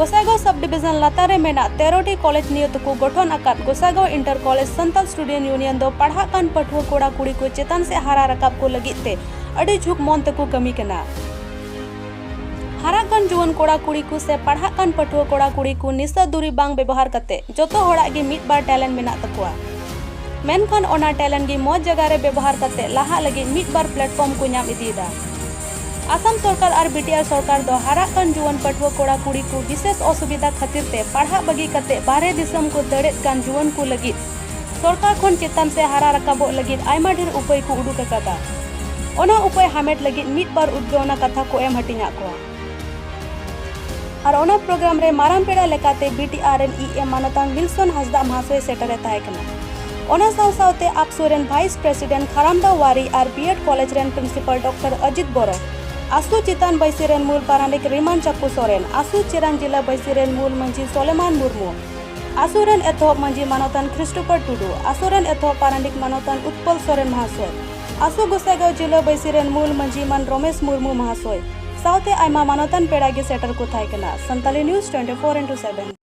ᱜᱚᱥᱟᱭᱜᱟᱸᱣ ᱥᱟᱵ ᱰᱤᱵᱤᱡᱚᱱ ᱞᱟᱛᱟᱨ ᱨᱮ ᱢᱮᱱᱟᱜ ᱛᱮᱨᱚᱴᱤ ᱠᱚᱞᱮᱡᱽ ᱱᱤᱭᱟᱹ ᱛᱮᱠᱚ ᱜᱚᱴᱷᱚᱱ ᱟᱠᱟᱫ Gossaigaon inter college Santal student union ᱫᱚ ᱯᱟᱲᱦᱟᱜ ᱠᱟᱱ ᱯᱟᱹᱴᱷᱩᱣᱟᱹ ᱠᱚᱲᱟ ᱠᱩᱲᱤ ᱠᱚ ᱪᱮᱛᱟᱱ ᱥᱮᱫ ᱦᱟᱨᱟ ᱨᱟᱠᱟᱵ ᱠᱚ ᱞᱟᱹᱜᱤᱫ ᱛᱮ ᱟᱹᱰᱤ ᱡᱷᱩᱠ ᱢᱚᱱ ᱛᱮᱠᱚ ᱠᱟᱹᱢᱤ ᱠᱟᱱᱟ ᱦᱟᱨᱟᱜ ᱠᱟᱱ ᱡᱩᱣᱟᱹᱱ ᱠᱚᱲᱟ ᱠᱩᱲᱤ ᱠᱚ ᱥᱮ ᱯᱟᱲᱦᱟᱜ ᱠᱟᱱ ᱯᱟᱹᱴᱷᱩᱣᱟᱹ ᱠᱚᱲᱟ ᱠᱩᱲᱤ ᱠᱚ ᱱᱤᱥᱟᱹ ᱫᱩᱨᱤ ᱵᱟᱝ ᱵᱮᱵᱚᱦᱟᱨ ᱠᱟᱛᱮ ᱡᱚᱛᱚ ᱦᱚᱲᱟᱜ ᱜᱮ ᱢᱤᱫ ᱵᱟᱨ ᱴᱮᱞᱮᱱᱴ ᱢᱮᱱᱟᱜ ᱛᱟᱠᱚᱣᱟ ᱢᱮᱱᱠᱷᱟᱱ ᱚᱱᱟ ᱴᱮᱞᱮᱱᱴ ᱜᱮ ᱢᱚᱡᱽ ᱡᱟᱭᱜᱟ ᱨᱮ ᱵᱮᱵᱚᱦᱟᱨ ᱠᱟᱛᱮ ᱞᱟᱦᱟᱜ ᱞᱟᱹᱜᱤᱫ ᱢᱤᱫ ᱵᱟᱨ ᱯᱞᱟᱴᱯᱷᱚᱨᱢ ᱠᱚ ᱧᱟᱢ ᱤᱫᱤᱭᱮᱫᱟ ᱟᱥᱟᱢ ᱥᱚᱨᱠᱟᱨ ᱟᱨ ᱵᱤᱴᱤᱟᱨ ᱥᱚᱨᱠᱟᱨ ᱫᱚ ᱦᱟᱨᱟᱜ ᱠᱟᱱ ᱡᱩᱣᱟᱹᱱ ᱯᱟᱹᱴᱷᱩᱣᱟᱹ ᱠᱚᱲᱟ ᱠᱩᱲᱤ ᱠᱚ ᱵᱤᱥᱮᱥ ᱚᱥᱩᱵᱤᱫᱷᱟ ᱠᱷᱟᱹᱛᱤᱨ ᱛᱮ ᱯᱟᱲᱦᱟᱜ ᱵᱟᱹᱜᱤ ᱠᱟᱛᱮ ᱵᱟᱦᱨᱮ ᱫᱤᱥᱚᱢ ᱠᱚ ᱫᱟᱹᱲᱮᱫ ᱠᱟᱱ ᱡᱩᱣᱟᱹᱱ ᱠᱚ ᱞᱟᱹᱜᱤᱫ ᱥᱚᱨᱠᱟᱨ ᱠᱷᱚᱱ ᱪᱮᱛᱟᱱ ᱥᱮ ᱦᱟᱨᱟ ᱨᱟᱠᱟᱵᱚᱜ ᱞᱟᱹᱜᱤᱫ ᱟᱭᱢᱟ ᱰᱷᱮᱨ ᱩᱯᱟᱹᱭ ᱠᱚ ᱩᱰᱩᱠ ᱟᱠᱟᱫᱟ᱾ ᱚᱱᱟ ᱩᱯᱟᱹᱭ ᱦᱟᱢᱮᱴ ᱞᱟᱹᱜᱤᱫ ᱢᱤᱫ ᱵᱟᱨ ᱩᱫᱽᱜᱟᱹᱣᱱᱟ ᱠᱟᱛᱷᱟ ᱠᱚ ᱮᱢ ᱦᱟᱹᱴᱤᱧᱟᱫ ᱠᱚᱣᱟ᱾ ᱟᱨ ᱚᱱᱟ ᱯᱨᱚᱜᱨᱟᱢ ᱨᱮ ᱢᱟᱨᱟᱝ ᱯᱮᱲᱟ ᱞᱮᱠᱟᱛᱮ ᱵᱤᱴᱤᱟᱨ ᱨᱮᱱ ᱤ ᱮᱢ ᱢᱟᱱᱚᱛᱟᱱ ᱣᱤᱞᱥᱚᱱ ᱦᱟᱸᱥᱫᱟᱜ ᱢᱟᱦᱟᱥᱚᱭ ᱥᱮᱴᱮᱨ ᱮ ᱛᱟᱦᱮᱸ ᱠᱟᱱᱟ᱾ ᱚᱱᱟ ᱥᱟᱶ ᱥᱟᱶᱛᱮ ᱟᱯᱥᱩ ᱨᱮᱱ ᱵᱷᱟᱭᱤᱥ ᱯᱨᱮᱥᱤᱰᱮᱱᱴ ᱠᱷᱟᱨᱟᱢᱫᱟ ᱣᱟᱨᱤ ᱟᱨ ᱵᱤᱭᱮᱰ ᱠᱚᱞᱮᱡᱽ ᱨᱮᱱ ᱯᱨᱤᱱᱥᱤᱯᱟᱞ ᱰᱚᱠᱴᱚᱨ ᱚᱡᱤᱛ ᱵᱚᱨᱚ ᱟᱥᱩ ᱪᱮᱛᱟᱱ ᱵᱟᱹᱭᱥᱤ ᱨᱮᱱ ᱢᱩᱞ ᱯᱟᱨᱟᱱᱤᱠ ᱨᱤᱢᱟᱱ ᱪᱟᱠᱩ ᱥᱚᱨᱮᱱ ᱟᱥᱩ ᱪᱮᱨᱟᱱ ᱡᱤᱞᱟ ᱵᱟᱹᱭᱥᱤ ᱨᱮᱱ ᱢᱩᱞ ᱢᱟᱹᱡᱷᱤ ᱥᱚᱞᱮᱢᱟᱱ ᱢᱩᱨᱢᱩ ᱟᱥᱩ ᱨᱮᱱ ᱮᱛᱚᱦᱚᱵ ᱢᱟᱹᱡᱷᱤ ᱢᱟᱱᱚᱛᱟᱱ ᱠᱷᱨᱤᱥᱴᱳᱯᱷᱟᱨ ᱴᱩᱰᱩ ᱟᱥᱩ ᱨᱮᱱ ᱮᱛᱚᱦᱚᱵ ᱯᱟᱨᱟᱱᱤᱠ ᱢᱟᱱᱚᱛᱟᱱ ᱩᱛᱯᱚᱞ ᱥᱚᱨᱮᱱ ᱢᱟᱦᱟᱥᱚᱭ ᱟᱥᱩ ᱜᱚᱥᱟᱭᱜᱟᱸᱣ ᱡᱤᱞᱟ ᱵᱟᱹᱭᱥᱤ ᱨᱮᱱ ᱢᱩᱞ ᱢᱟᱹᱡᱷᱤ ᱢᱟᱱ ᱨᱚᱢᱮᱥ ᱢᱩᱨᱢᱩ ᱢᱟᱦᱟᱥᱚᱭ ᱥᱟᱶᱛᱮ ᱟᱭᱢᱟ ᱢᱟᱱᱚᱛᱟᱱ ᱯᱮᱲᱟ ᱜᱮ ᱥᱮᱴᱮᱨ ᱠᱚ ᱛᱟᱦᱮᱸ ᱠᱟᱱᱟ ᱥᱟᱱᱛᱟᱞᱤ ᱱᱤᱭᱩᱡᱽ 24 ᱤᱱᱴᱩ 7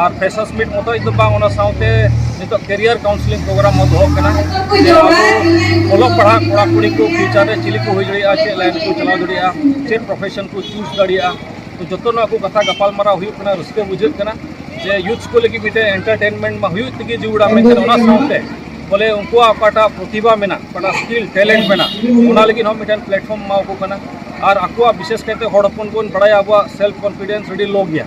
ᱟᱨ ᱯᱷᱮᱥᱟᱥ ᱢᱤᱴ ᱢᱚᱛᱚ ᱫᱚ ᱵᱟᱝ ᱚᱱᱟ ᱥᱟᱶᱛᱮ ᱱᱤᱛᱚᱜ ᱠᱮᱨᱤᱭᱟᱨ ᱠᱟᱣᱩᱱᱥᱤᱞᱤᱝ ᱯᱨᱳᱜᱨᱟᱢ ᱦᱚᱸ ᱫᱚᱦᱚᱜ ᱠᱟᱱᱟ ᱚᱞᱚᱜ ᱯᱟᱲᱦᱟᱜ ᱠᱚᱲᱟ ᱠᱩᱲᱤ ᱠᱚ ᱯᱷᱤᱭᱩᱪᱟᱨ ᱨᱮ ᱪᱤᱞᱤ ᱠᱚ ᱦᱩᱭ ᱫᱟᱲᱮᱭᱟᱜᱼᱟ ᱪᱮᱫ ᱞᱟᱭᱤᱱ ᱠᱚ ᱪᱟᱞᱟᱣ ᱫᱟᱲᱮᱭᱟᱜᱼᱟ ᱪᱮᱫ ᱯᱨᱚᱯᱷᱮᱥᱚᱱ ᱠᱚ ᱪᱩᱡᱽ ᱫᱟᱲᱮᱭᱟᱜᱼᱟ ᱛᱚ ᱡᱚᱛᱚ ᱱᱚᱣᱟ ᱠᱚ ᱠᱟᱛᱷᱟ ᱜᱟᱯᱟᱞᱢᱟᱨᱟᱣ ᱦᱩᱭᱩᱜ ᱠᱟᱱᱟ ᱨᱟᱹᱥᱠᱟᱹ ᱵᱩᱡᱷᱟᱹᱜ ᱠᱟᱱᱟ ᱡᱮ ᱭᱩᱛᱷ ᱠᱚ ᱞᱟᱹᱜᱤᱫ ᱢᱤᱫᱴᱮᱱ ᱮᱱᱴᱟᱨᱴᱮᱱᱢᱮᱱᱴ ᱢᱟ ᱦᱩᱭᱩᱜ ᱛᱮᱜᱮ ᱡᱩᱲᱟ ᱢᱮᱱᱠᱷᱟᱱ ᱚᱱᱟ ᱥᱟᱶᱛᱮ ᱵᱚᱞᱮ ᱩᱱᱠᱩᱣᱟᱜ ᱚᱠᱟᱴᱟᱜ ᱯᱨᱚᱛᱤᱵᱷᱟ ᱢᱮᱱᱟᱜ ᱚᱠᱟᱴᱟᱜ ᱥᱠᱤᱞ ᱴᱮᱞᱮᱱᱴ ᱢᱮᱱᱟᱜ ᱚᱱᱟ ᱞᱟᱹᱜᱤᱫ ᱦᱚᱸ ᱢᱤᱫᱴᱮᱱ ᱯᱞᱟᱴᱯᱷᱚᱨᱢ ᱮᱢᱟᱣᱟᱠᱚ ᱠᱟᱱᱟ ᱟᱨ ᱟᱠᱚᱣᱟᱜ ᱵᱤᱥᱮᱥ ᱠᱟᱭᱛᱮ ᱦᱚᱲ ᱦᱚᱯᱚᱱ ᱵᱚᱱ ᱵᱟᱲᱟᱭᱟ ᱟᱵᱚᱣᱟᱜ ᱥᱮᱞᱯᱷ ᱠᱚᱱᱯᱷᱤᱰᱮᱱᱥ ᱟᱹᱰᱤ ᱞᱳ ᱜᱮᱭᱟ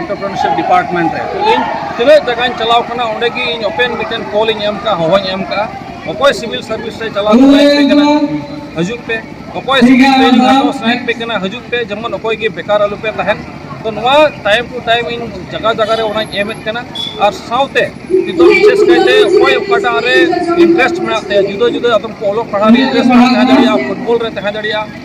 ᱮᱱᱴᱚᱨᱯᱨᱮᱱᱚᱨᱥᱤᱯ ᱰᱤᱯᱟᱨᱴᱢᱮᱱᱴ ᱨᱮ ᱤᱧ ᱛᱤᱱᱟᱹᱜ ᱡᱟᱭᱜᱟᱧ ᱪᱟᱞᱟᱣ ᱠᱟᱱᱟ ᱚᱸᱰᱮ ᱜᱮ ᱤᱧ ᱳᱯᱮᱱ ᱢᱤᱫᱴᱮᱱ ᱠᱚᱞ ᱤᱧ ᱮᱢ ᱠᱟᱜᱼᱟ ᱦᱚᱦᱚᱧ ᱮᱢ ᱠᱟᱜᱼᱟ ᱚᱠᱚᱭ ᱥᱤᱵᱤᱞ ᱥᱟᱨᱵᱷᱤᱥ ᱨᱮ ᱪᱟᱞᱟᱣ ᱥᱟᱱᱟᱭᱮᱫ ᱯᱮ ᱠᱟᱱᱟ ᱦᱤᱡᱩᱜ ᱯᱮ ᱚᱠᱚᱭ ᱥᱤᱵᱤᱞ ᱴᱨᱮᱱᱤᱝ ᱦᱟᱛᱟᱣ ᱥᱟᱱᱟᱭᱮᱫ ᱯᱮ ᱠᱟᱱᱟ ᱦᱤᱡᱩᱜ ᱯᱮ ᱡᱮᱢᱚᱱ ᱚᱠᱚᱭ ᱜᱮ ᱵᱮᱠᱟᱨ ᱟᱞᱚ ᱯᱮ ᱛᱟᱦᱮᱱ ᱛᱚ ᱱᱚᱣᱟ ᱴᱟᱭᱤᱢ ᱴᱩ ᱴᱟᱭᱤᱢ ᱤᱧ ᱡᱟᱭᱜᱟ ᱡᱟᱭᱜᱟ ᱨᱮ ᱚᱱᱟᱧ ᱮᱢᱮᱫ ᱠᱟᱱᱟ ᱟᱨ ᱥᱟᱶᱛᱮ ᱱᱤᱛᱚᱜ ᱵᱤᱥᱮᱥ ᱠᱟᱭᱛᱮ ᱚᱠᱚᱭ ᱚᱠᱟᱴᱟᱜ ᱨᱮ ᱤᱱᱴᱟᱨᱮᱥᱴ ᱢᱮᱱᱟᱜ ᱛᱟᱭᱟ ᱡᱩᱫᱟᱹ ᱡᱩᱫᱟᱹ ᱟᱫᱚᱢ ᱠᱚ ᱚᱞᱚᱜ ᱯᱟᱲᱦᱟᱜ ᱨᱮ ᱤᱱᱴᱟᱨᱮᱥᱴ ᱢᱮᱱᱟᱜ ᱛᱟᱭᱟ ᱯᱷᱩᱴᱵᱚᱞ ᱨᱮ ᱛᱟᱦᱮᱸ ᱫᱟᱲᱮᱭᱟᱜᱼᱟ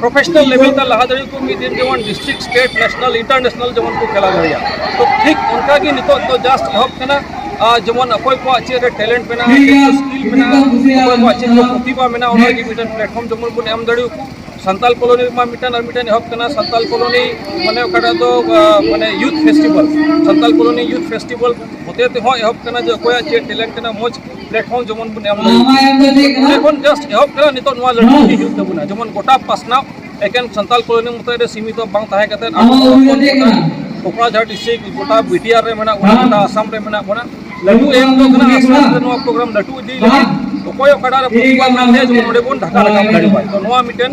ᱯᱨᱚᱯᱷᱮᱥᱚᱱᱟᱞ ᱞᱮᱵᱮᱞ ᱛᱮ ᱞᱟᱦᱟ ᱫᱟᱲᱮ ᱠᱚ ᱢᱤᱫ ᱫᱤᱱ ᱡᱮᱢᱚᱱ ᱰᱤᱥᱴᱨᱤᱠᱴ ᱥᱴᱮᱴ ᱱᱮᱥᱱᱟᱞ ᱤᱱᱴᱟᱨᱱᱮᱥᱱᱟᱞ ᱡᱮᱢᱚᱱ ᱠᱚ ᱠᱷᱮᱞᱟ ᱫᱟᱲᱮᱭᱟᱜᱼᱟ ᱛᱚ ᱴᱷᱤᱠ ᱚᱱᱠᱟ ᱜᱮ ᱱᱤᱛᱚᱜ ᱫᱚ ᱡᱟᱥᱴ ᱮᱦᱚᱵ ᱠᱟᱱᱟ ᱡᱮᱢᱚᱱ ᱚᱠᱚᱭ ᱠᱚᱣᱟᱜ ᱪᱮᱫ ᱨᱮ ᱴᱮᱞᱮᱱᱴ ᱢᱮᱱᱟᱜᱼᱟ ᱥᱠᱤᱞ ᱢᱮᱱᱟᱜᱼᱟ ᱚᱠᱚᱭ ᱠᱚᱣᱟᱜ ᱪᱮᱫ ᱨᱮ ᱯᱨᱚᱛᱤᱵᱷᱟ ᱢᱮᱱᱟᱜᱼᱟ ᱚᱱᱟ ᱞᱟᱹᱜᱤᱫ ᱢᱤᱫᱴᱮᱱ ᱯᱞᱟᱴᱯᱷᱚᱨᱢ ᱡᱮᱢᱚᱱ ᱵᱚᱱ ᱮᱢ ᱫᱟᱲᱮ ᱟᱠᱚ ᱥᱟᱱᱛᱟᱞ ᱠᱚᱞᱚᱱᱤ ᱨᱮᱢᱟ ᱢᱤᱫᱴᱮᱱ ᱟᱨ ᱢᱤᱫᱴᱮᱱ ᱮᱦᱚᱵ ᱠᱟᱱᱟ ᱥᱟᱱᱛᱟᱞ ᱠᱚᱞᱚᱱᱤ ᱢᱟᱱᱮ ᱚᱠᱟᱴᱟᱜ ᱫᱚ ᱢᱟᱱᱮ youth festival Santal colony youth festival ᱦᱚᱛᱮ ᱛᱮᱦᱚᱸ ᱮᱦᱚᱵ ᱠᱟᱱᱟ ᱡᱮ ᱚᱠᱚᱭᱟᱜ ᱪᱮᱫ ᱴᱮᱞᱮᱱᱴ ᱠᱟᱱᱟ ᱢᱚᱡᱽ ᱯᱞᱮᱴᱯᱷᱚᱨᱢ ᱡᱮᱢᱚᱱ ᱵᱚᱱ ᱮᱢ ᱚᱸᱰᱮ ᱠᱷᱚᱱ ᱡᱟᱥᱴ ᱮᱦᱚᱵ ᱠᱟᱱᱟ ᱱᱤᱛᱚᱜ ᱱᱚᱣᱟ ᱞᱟᱹᱲᱦᱟᱹᱭ ᱤᱫᱤ ᱦᱩᱭᱩᱜ ᱛᱟᱵᱚᱱᱟ ᱡᱮᱢᱚᱱ ᱜᱚᱴᱟ ᱯᱟᱥᱱᱟᱣ ᱮᱠᱮᱱ ᱥᱟᱱᱛᱟᱞ ᱠᱚᱞᱚᱱᱤ ᱢᱚᱛᱚ ᱨᱮ ᱥᱤᱢᱤᱛᱚ ᱵᱟᱝ ᱛᱟᱦᱮᱸ ᱠᱟᱛᱮ ᱠᱚᱠᱲᱟᱡᱷᱟᱴ ᱰᱤᱥᱴᱨᱤᱠ ᱜᱚᱴᱟ ᱵᱤᱴᱤᱟᱨ ᱨᱮ ᱢᱮᱱᱟᱜ ᱵᱚᱱᱟ ᱜᱚᱴᱟ ᱟᱥᱟᱢ ᱨᱮ ᱢᱮᱱᱟᱜ ᱵᱚᱱᱟ ᱞᱟᱹᱴᱩ ᱮᱢ ᱫᱚ ᱠᱟᱱᱟ ᱟᱥᱛᱮ ᱟᱥᱛᱮ ᱱᱚᱣᱟ ᱯᱨᱳᱜᱨᱟᱢ ᱞᱟᱹᱴᱩ ᱤᱫᱤ ᱞᱟᱹᱜᱤᱫ ᱚᱠᱚᱭ ᱚᱠᱟᱴᱟᱜ ᱨᱮ ᱯᱨᱚᱛᱤᱵᱟᱫ ᱢᱮᱱᱟᱜ ᱛᱟᱭᱟ ᱡᱮᱢᱚᱱ ᱚᱸᱰᱮ ᱵᱚᱱ ᱰᱷᱟᱠᱟ ᱨᱟᱠᱟᱵ ᱫᱟᱲᱮᱭᱟᱜᱼᱟ ᱛᱚ ᱱᱚᱣᱟ ᱢᱤᱫᱴᱮᱱ